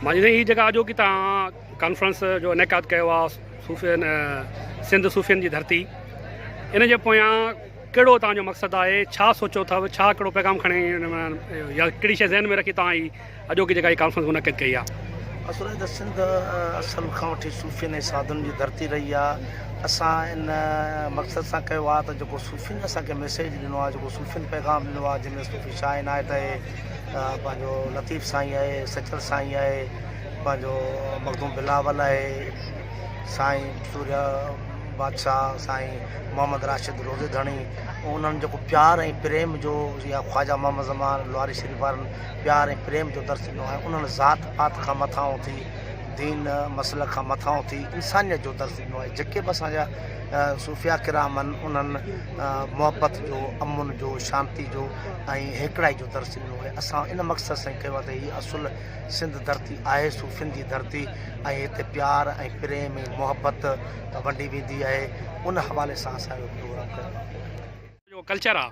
مانجهندي هي جيڪا اڄوڪي توهان ڪانفرنس جو انعقاد ڪيو آ صوفين سنڌ صوفين جي ڌرتي ان جي پويان ڪهڙو توهان جو مقصد آهي ڇا سوچو اٿو ڇا ڪهڙو پيغام کڻي يا ڪهڙي شي ذهن ۾ رکي توهان هي اڄوڪي جيڪا هي ڪانفرنس منعقد ڪئي آ اصل ته سنڌ اصل کان وٺي صوفين ۽ سادن جي ڌرتي رهي آهي اسان ان مقصد سان ڪيو آهي ته جيڪو صوفين اسانکي ميسيج ڏنو آهي جيڪو صوفين پيغام ڏنو آهي جنهن ۾ صوفي شاهه عنايت اهي پنهنجو لطيف سائين آهي سچل سائين آهي پنهنجو مخدوم بلاول آهي سائين سوريا بادشاهه سائين محمد راشد روزي ڌڻي انهن جو پيار ۽ پريم جو يا خواجا محمد زمان لواري شريف وارن پيار ۽ پريم جو درس ڏنو آهي انهن ذات پات کان مٿان اٿي دين مسئلن کان مٿان اٿي انسانيت جو درس ڏنو آهي جيڪي به اسانجا صوفيا ڪرام آهن انهن محبت جو امن جو شانتي جو ۽ هيڪڙائي جو درس ڏنو آهي اسان ان مقصد سان هي ڪيو آهي ته هي اصل سنڌ ڌرتي آهي صوفين جي ڌرتي ۽ هتي پيار ۽ پريم ۽ محبت ونڊي ويندي آهي ان حوالي سان اسان اهو پروگرام ڪيو آهي. جو ڪلچر آ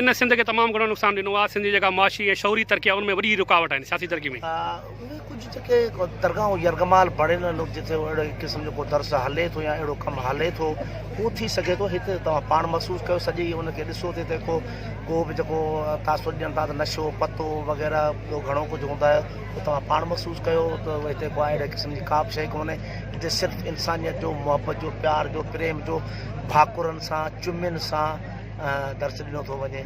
ان سنڌ کي تمام گھڻو نقصان ڏنو آ سنڌ جي جيڪا معاشي ۽ شعوري ترقي آ ان ۾ وڏي رڪاوٽ آهن سياسي ترقي ۾. اهي ڪجهه جيڪي درگاهون يرغمال بڻيل آهن جتي اهڙي قسم جو ڪو درس هلي ٿو يا اهڙو ڪم هلي ٿو اهو ٿي سگهي ٿو هتي توهان پاڻ محسوس ڪيو سڄي ان کي ڏسو تي تي ڪو ڪو به جيڪو تاثر ڏين ٿا ته نشو پتو وغيره ٻيو گهڻو ڪجهه هوندا آهي اهو توهان پاڻ محسوس ڪيو ته هتي ڪو اهڙي قسم جي ڪا به شيء ڪونهي هتي صرف انسانيت جو محبت جو پيار جو پريم جو ڀاڪرن سان چمين سان درس ڏنو ٿو وڃي